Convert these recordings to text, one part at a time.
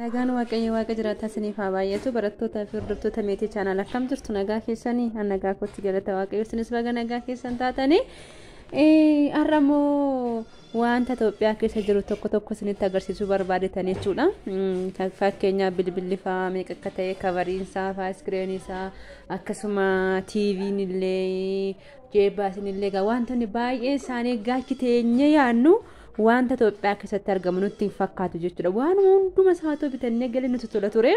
Nagaan Waaqayyo Waaqa jiraataa isiniif haa baay'atu barattootaa fi hordoftoota meetii chaanaal akkam jirtu nagaa keessanii an nagaa kootti galata Waaqayyo isinis baga nagaa keessan taatanii har'a immoo wanta Itoophiyaa keessa jiru tokko tokko isinitti agarsiisuu barbaadetanii jechuudha. Fakkeenyaaf bilbilli fa'aa meeqa akka ta'e kavariin isaa fa'aa iskiriinii isaa akkasuma tiiviin illee Jeebaa isinillee egaa wantoonni baay'een isaanii gaachi teenyee yaadnu wanta Itoophiyaa keessatti argamu nutti hin fakkaatu jechuudha. Waan hunduma isaatoo bitannee galii nutti tola ture.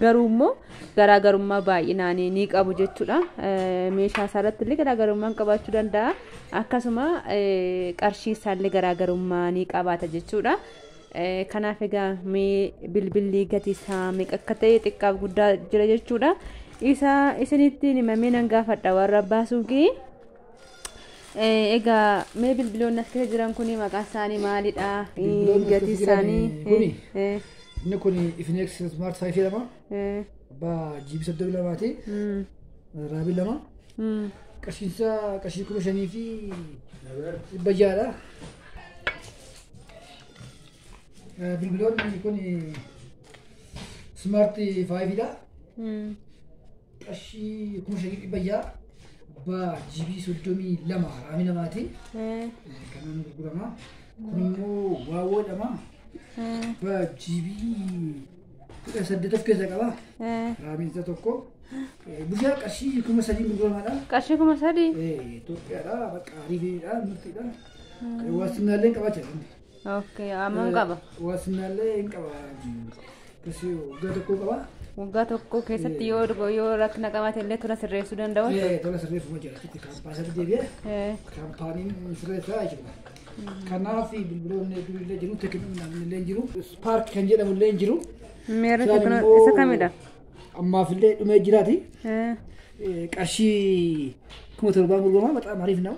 Garuu immoo garaagarummaa baay'inaan ni qabu jechuudha. Eh, Meeshaa isaa irratti illee garaagarummaan qabaachuu danda'a. Akkasuma eh, qarshii isaa illee garaagarummaa ni qabaata jechuudha. Kanaaf egaa mee bilbilli gatii isaa meeqa akka ta'e xiqqaaf guddaa jira jechuudha. Isa isinitti himamee nan gaafadha warra abbaa suuqii. Egaa mee bilbiloonni as keessa jiran kun maqaan isaanii maalidha? Gatii isaanii. Inni kun Ifinex Smart 5 jedhama. Abbaa GB 32 ti. Raabii lama. Qarshiinsaa qarshii kuma shanii fi dhibba ja'adha. Bilbiloonni kun smart 5 dha. Qarshii kuma shanii dhibba ja'a abbaa GB soddomii lama raamii namaati. Kanaan gurgurama. Kun immoo waawoo jedhama. Abbaa GB kudha saddeet of keessaa qaba. Raamiin isaa tokko. Bushaa qarshii kuma sadii gurguramaadha. Qarshii kuma sadii. Itoophiyaadha. Bakka ariifiidha. Murtiidha. Ani wasinaalee qaba jedhan. Okay, amam qaba? Wasinaalee hin qaba. Kasi waggaa tokkoo qaba. Waggaa tokko keessatti yoo dhugo- yoo rakkina qabaate illee tola sirreessuu danda'u. Eh, Tola sirreeffama jira. Itti kaampaasatti deebi'ee Eh, kaampaaniin sirreessaa jechuudha. Kanaaf bilbiloonni hedduun illee jiru, teekinoon illee jiru, paark kan jedhamu illee jiru. Meerri Isaan teekinoon immoo isa kamidha? Ammaaf illee dhumee jiraati. Eh, Eh, Qarshii kuma torbaan gurgurama, bataam hariif nama.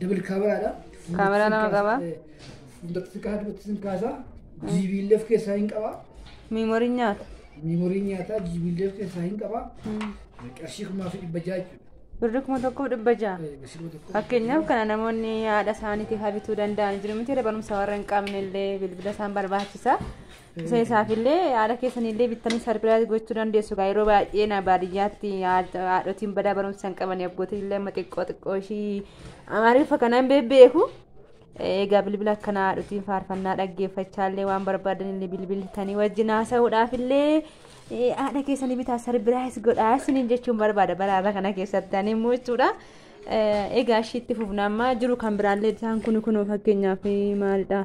Dabal kaameraadha. Kaameraa lama qaba. Fuulduratti si kaasa, duubatti si kaasa. Jiibiillee of keessaa hin qaba. Miimorii nyaata. Miimorii nyaataa jiibiillee of keessaa hin qaba. Qarshii kumaa fi dhibba ja'a jechuudha. Birri kuma tokkoof dhibba ja'a. Bashiroo tokko. Fakkeenyaaf kana namoonni haadha isaaniitiif habituu danda'an jiru miti barumsa warra hin qabne illee bilbila isaan barbaachisa. Isa isaafillee haadha keessanillee bittanii sarpiraayiz gochuu dandeessu gaa yeroo baay'ee na baadiyyaatti haadhotiin badaa barumsa hin qaban abbootiin illee amma xiqqoo xiqqoo ishii amaariffa kana hin beeku. Egaa bilbila akkanaa haadhotiin faarfannaa dhaggeeffachaa illee waan barbaadan illee bilbiltanii wajjin haasa'uudhaaf illee haadha keessanii bitaa sarpiraayiz godhaa isiniin jechuun barbaada baraarra kana keessatti ani immoo jechuudha. Egaa ishiitti fufna amma jiru kan biraallee isaan kun kun fakkeenyaaf maalidha.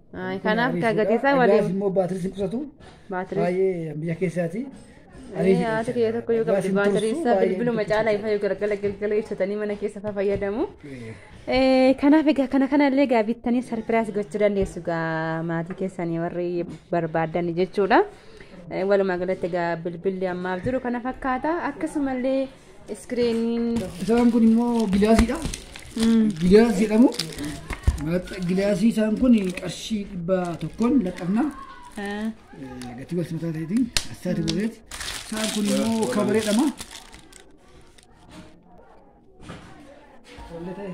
Ay, Kanaaf kaa gatii isaa Gaas waliin immoo baatirii sin qusatu. baatirii. Baay'ee biyya keessaati. Ee, Haati kiyya tokko yoo qabdi baatirii isaa bilbiluma caalaa ifa yoo galgala galgala ibsatanii mana keessa faa fayyadamu. Eh, Kanaaf egaa kana kana illee egaa bittanii sarpiraas gochuu dandeessu egaa maatii keessanii warri barbaadan jechuudha. Eh, Walumaa galatti egaa bilbilli ammaaf jiru kana fakkaata akkasumallee Iskiriiniin. Isaan kun immoo gilaasiidha. Gilaas jedhamu. Maaxxa- Gilaasii isaan kun qarshii dhibba tokkoon laxxafna. Eh, Gatii wal simataa ta'eetiin asxaati godheeti. Isaan kun immoo kabaree jedhama. Wallee ta'e.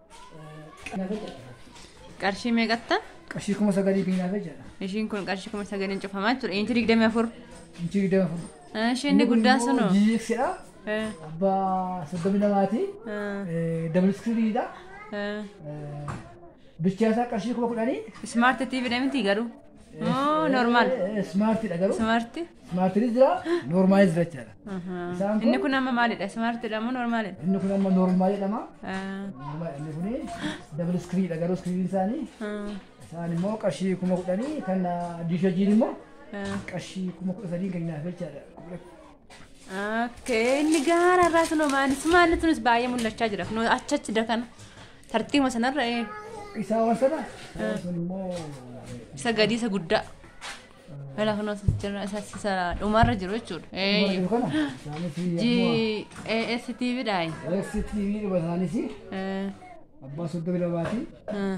Qarshii meeqatta? Qarshii kuma sagalii fi naafe jedha. Ishiin kun qarshii kuma sagaliin cufamaa jechuudha. Inchi digdamii afur. Inchii digdama furu. Ishii inni guddaa sunu. GXdha. Eh, Abbaa soddomi lamaati. eh, Dabal iskiriiniidha. eh. Bichaa isaa qarshii kuma kudhanii. Smart TV dha miti garuu. Moo normal. Smaartiidha garuu. Smaarti. Smaartiinis jira noormaalis jira jechaadha. Isaan kun- Inni kun amma maalidha? Smaartiidha moo normaalidha? Inni kun amma noormaa jedhama. Ah, Noormaa inni kun dabal iskiriidha garuu iskiriin isaanii ah, isaan immoo qarshii kuma kudhanii kan diishajiin immoo ah. qarshii kuma kudha sadiin kan nyaata jechaadha. Okay, inni gaara irraa sun maani sumaanni sunis baay'ee mul'achaa jira kunoo achi achi dakana tartiibuma sanarra ee Isa waan sana. Waan sun immoo. isa gadii isa guddaa mala kunoo isa jira isa isa dhumarra jiru jechuudha. Eeyyu. Jiru kana. Isaanis G akkuma. A S T V dha. STV dhuma isaanis Eh, abbaa soddomi lamaati. eh.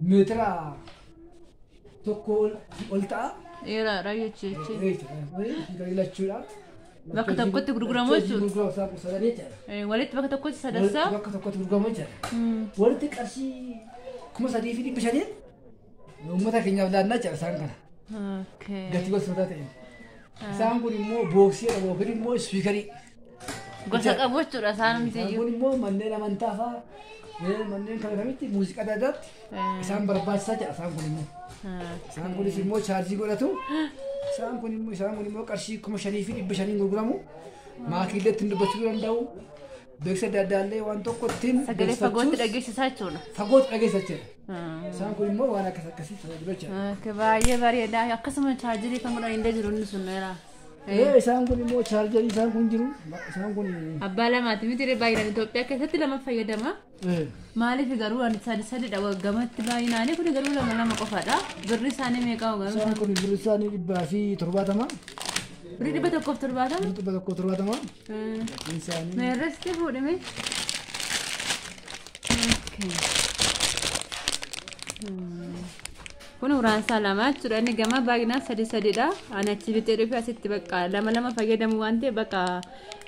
meetira tokko ol- ol ta'a. Dheeraadha jechuudha. Jechuudha. Ilachuudha. Bakka tokkotti gurguramu jechuudha. Gurguramu isaa kuusaa sadii jechuudha. Eh, Walitti bakka tokkotti Walitti sadarsaa. bakka tokkotti gurguramu jechuudha. Mm. Walitti qarshii kuma sadii fi dhibba shaniin uummata keenyaaf laannaa jechuudha isaan kana. Okay. Gatii gosoota ta'e. Isaan kun immoo booksii jedhamu yookiin immoo ispiikarii. Gosa qabu jechuudha isaan Isaan hundi. kun immoo manneen amantaa fa'a eh, manneen kana kamitti muuziqaa adda addaatti isaan barbaachisaa jedha isaan kun immoo. Isaan kunis immoo chaarjii godhatu. Isaan kun immoo isaan kun immoo qarshii kuma shanii fi dhibba shaniin gurguramu. Maakiillee ittiin dubbachuu danda'u. Beeksisa adda addaa illee waan tokko ittiin Sagalee fagootti beeksifachuus dhageessisaa jechuudha. fagootti dhageessa jira. Isaan kun immoo waan akkas akkasii tajaajilu jira. Akka baay'ee bareedaa akkasuma chaarjirii kan godhan illee jiru inni sun dheeraa. Ee, isaan kun immoo chaarjarii isaan kun jiru isaan kun Abbaa lamaati miti ree baay'inaan Itoophiyaa keessatti lama fayyadama. ee, Maaliif garuu ani sadi sadidha waggamatti baay'inaanii kun garuu lama lama qofadha. Birri isaanii meeqa garuu? isaan kun birri isaanii dhibbaa fi torbaatama Birri dhibba tokkoof torbaatama. birri dhibba tokko torbaatama Meerresti fuudhime. Kun uraan isaa lama jechuudha. Inni gama baay'inaan sadii sadiidha. Ani achi bitee dhufe asitti bakka lama lama fayyadamu waan ta'eef bakka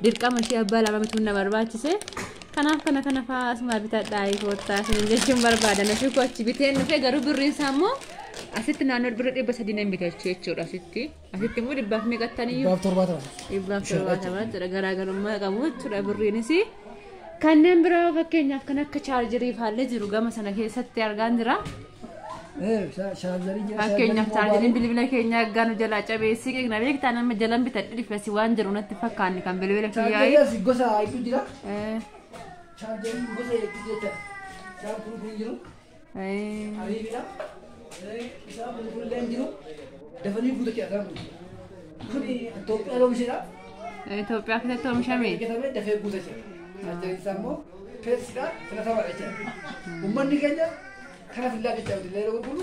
dirqama ishee abbaa lama bituun na barbaachise. Kanaaf kana kana fa'aa asuma bitadhaa koottaa isin jechuun barbaadan ofii koo achi bitee dhufe garuu birriin isaa immoo asitti naannoo birri dhibba sadii nan bitachu jechuudha asitti. Asitti immoo dhibbaaf meeqa ta'aniyyuu? Dhibbaaf torbaatama. Dhibbaaf torbaatama jechuudha. Garaagarummaa qabu jechuudha birriinis. Kanneen biraa fakkeenyaaf kan akka chaarjerii faallee jiru gama sana keessatti argaan jira. Fakkeenyaaf chaarjeriin bilbila keenya aggaa nu jalaa cabeessi qeeqna beektaa nama jalan bitadhe dhifesi waan jiru natti fakkaanne kan bilbila kiyyaa'e. Chaarjerii gosa hedduu jira. Chaarjerii gosa hedduu jira. Isaan kun kun jiru. Ariibidha. Bishaan bulbullee hin jiru. Dafanii guutatee argaa kun. Kun Itoophiyaa loomishedha. Itoophiyaa keessatti oomishame. Eeggatamee dafee guutatee. Tajaajilli isaa immoo feesiidha filatamaadha jechuudha. Uummanni keenya kana fillaa jecha illee gurguru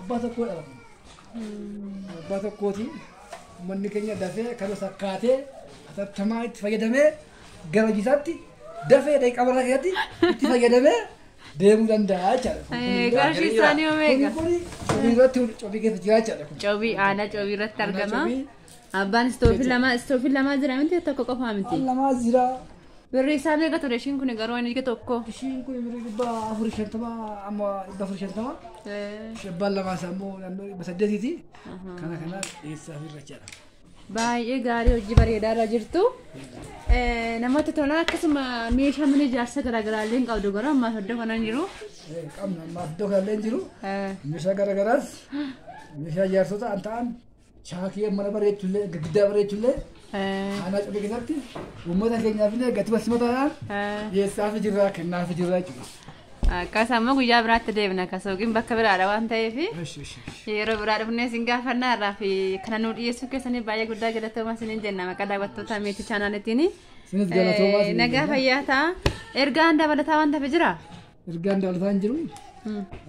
Abbaa tokkoo dha kun. Abbaa tokkootiin uummanni keenya dafee kana sakkaatee atattamaa itti fayyadamee gara hojiisaatti dafee daqiiqaa maraa keessatti itti fayyadamee deemuu danda'a jechaadha. Qarshii isaanii Kuni omeega. kuni cobii irratti cobii keessa jira jechaadha kun. Cobii aanaa cobii irratti argama. Cobii Abbaan istoofii lama istoofii lama jira miti tokko qofaa miti. lamaa jira Birreessaa meeqa ture ishiin kun garuu inni ija tokko. Ishiin kun birrii dhibba afurii shantama amma dhibba afurii shantama. Shabbaan lamaa isaa immoo naannoo dhibba saddeetiiti. Kana kana dhiyeessaa fi irrachaadha. Baay'ee gaarii hojii bareedaa irra jirtu. Namatti tola akkasuma meeshaa mana ijaarsa garaagaraa illee hin qabdu garuu ammaa iddoo kana hin jiru. Qabna ammaa iddoo kanallee hin jiru. Meeshaa garaagaraas meeshaa ijaarsota an ta'an Shaakee mana bareechullee giddaa bareechullee aanaa cuuqii keessatti uummata keenyaafillee gatii walsimataadhaan dhiyeessaafi jirra kennaafi jirra jechuudha. Akkas ammoo guyyaa biraatti deebina akka suuqiin bakka biraadha waan ta'eef Eshi eshi eshi. yeroo biraa dhufnee isin gaafannaa irraa fi kana nu dhiyeessuu keessanii baay'ee guddaa galatoomaa isiniin jenna maqaa daawwattoota miitii chaanaalitiin. Isinis galatoomaa isiniin Nagaa jenna. fayyaa ta'a. Ergaan dabalataa waan ta'eef jira. Ergaan daalfaa hin jiru.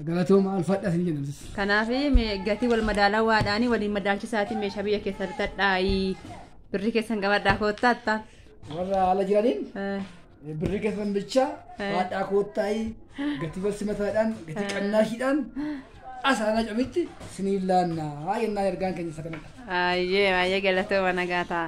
Galatooma alfadhas hin jennu. Kanaaf gatii wal madaalaa waadhaanii waliin madaalchisaatii meeshaa biyya keessa bitadhaayii. Birri keessan qabadhaa koottaa attaa. Warra ala jiraniin birri keessan bicha haadhaa koottaayii gatii wal simataadhaan gatii qannaashiidhaan asaanaa camitti siniin laannaa yennaan ergaan keenya isa kanadha. Ayyee ayyee galatooma nagaa ta'a.